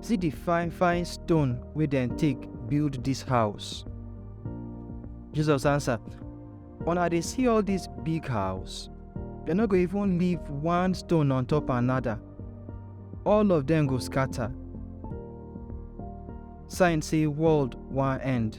See di fine fine stone wey dem take build dis house. Jesus answer, Una dey see all dis big house? Dem no go even leave one stone on top another. All of dem go scatter. Sign say world wan end.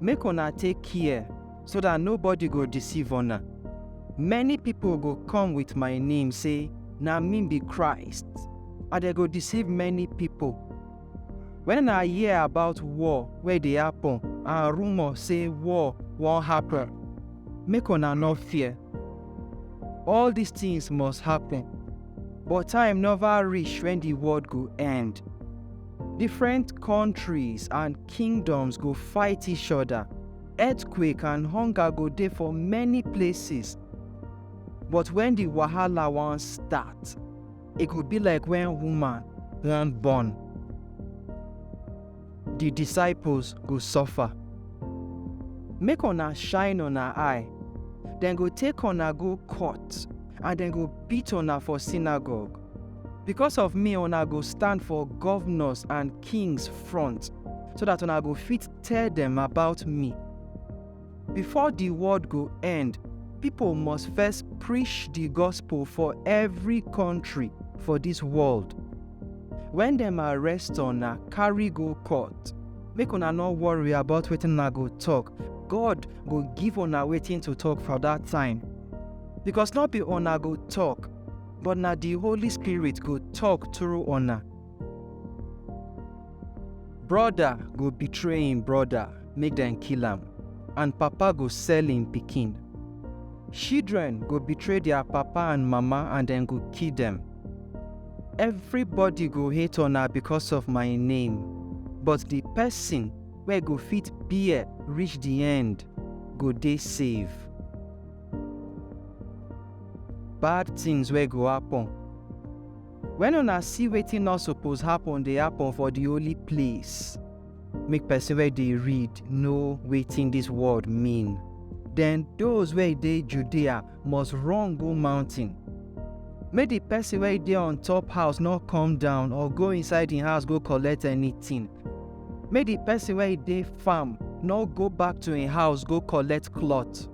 Make una take care so dat nobody go deceive una. Many pipo go come wit my name sey, Na me be Christ, and dem go deceive many pipo. Wen una hear about war wey dey happen and rumour sey war wan happen, make una nor fear. All dis tins must happen, but time nova reach wen di world go end. Different kontris and. kingdoms go fight each oda, earthquake and hunger go dey for many places. But wen di wahala wan start, e go be like wen woman wan born. Di disciples go suffer. Make una shine una eye, dem go take una go court and dem go beat una for synagogue. Because of me una go stand for governors and kings front, so that una go fit tell dem about me. Before the world go end, people must first preach the gospel for every country for this world. When dem arrest una, carry go court. Make una no worry about wetin una go talk. God go give una wetin to talk for that time. Because no be una go talk, but na di Holy Spirit go tok through una. Broda go betray im broda make dem kill am, and papa go sell im pikin. Children go betray dia papa and mama and dem go kill dem. Everybody go hate una because of my name, but di pesin wey go fit bear reach di end go dey save. Bad tins wey go happun. Wen una see wetin nor suppose happun dey happun for di holy place, make pesin wey dey read know wetin dis word mean. Den dose wey dey Judea must run go mountain. Make di pesin wey dey on top house nor come down or go inside im house go collect anytin. Make di pesin wey dey farm nor go back to im house go collect cloth.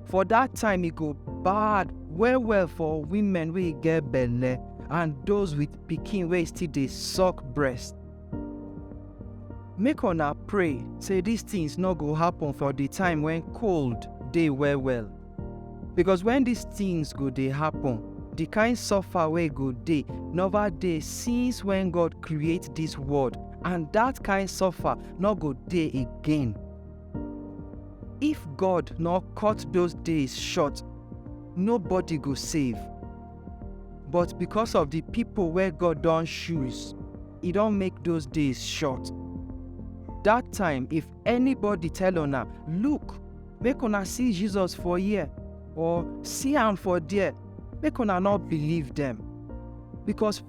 For that time e go bad well well for women wey get belle and those with pikin wey still dey suck breast. Make una pray say these things no go happen for the time when cold dey well well. Because when these things go dey happen, the kind suffer wey go dey never dey since when God create this world and that kind suffer no go dey again. If God nor cut those days short, nobody go save. But because of the people where God don choose, e don make those days short. That time, if anybody tell una, look, make una see Jesus for here, or see am for there, make una not believe them. Because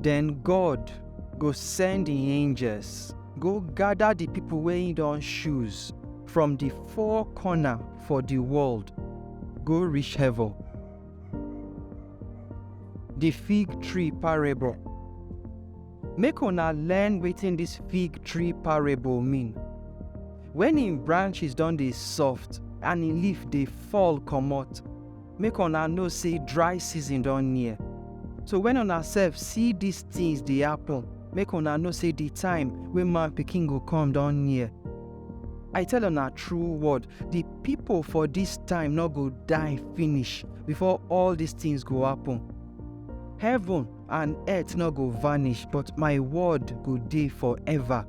den god go send im angels go gada di pipo wey im don choose from di four corner for di world go reach heaven di fig tree parable make una learn wetin dis fig tree parable mean wen im branches don dey soft and im leaf dey fall comot make una know sey dry season don near. So wen una sef see dis tins dey happen, make una know sey di time wey Man Pikin go come don near. I tell una true word, di pipo for dis time nor go die finish before all dis tins go happen. Heaven and earth nor go vanish, but my word go dey forever.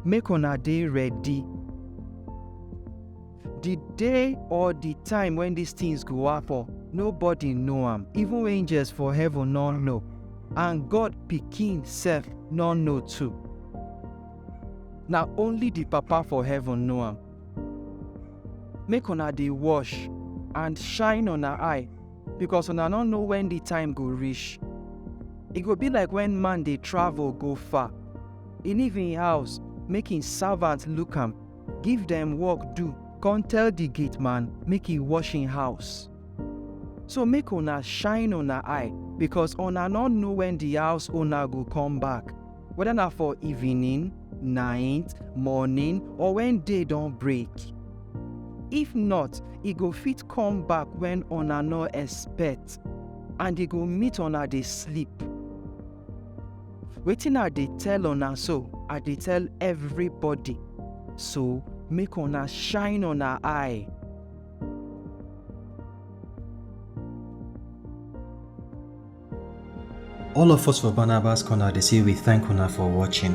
Make una dey ready. The day or the time when these things go happen, nobody know am, even angels for heaven no know, and God pikin sef no know too. Na only the Papa for heaven know am. Make una dey wash and shine una eye, because una no know when the time go reach. E go be like when man dey travel go far, e leave im house make im servant look am Give dem work do. Kon tell di gate man make e wash en house. So make una shine una eye, bikos una nor know wen di house owna go kom back, weda na for evening, night, morning, or wen day don break. If not, e go fit kom back wen una nor expect, and e go meet una dey sleep. wetin i dey tell una so i dey tell everybody so make una shine una eye All of us for Barnabas Corner dey say we thank una for watching.